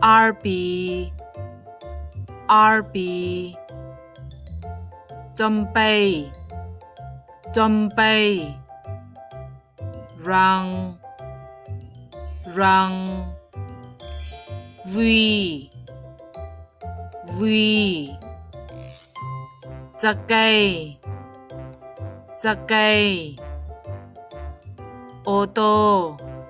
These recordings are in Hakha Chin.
Arpi Arpi Compei Compei Rang Rang Vui Vui Cakei Cakei Ô tô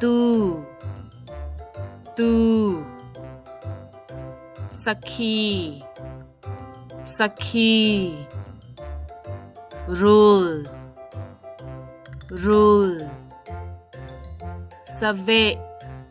tu tu sakhi sakhi rule rule save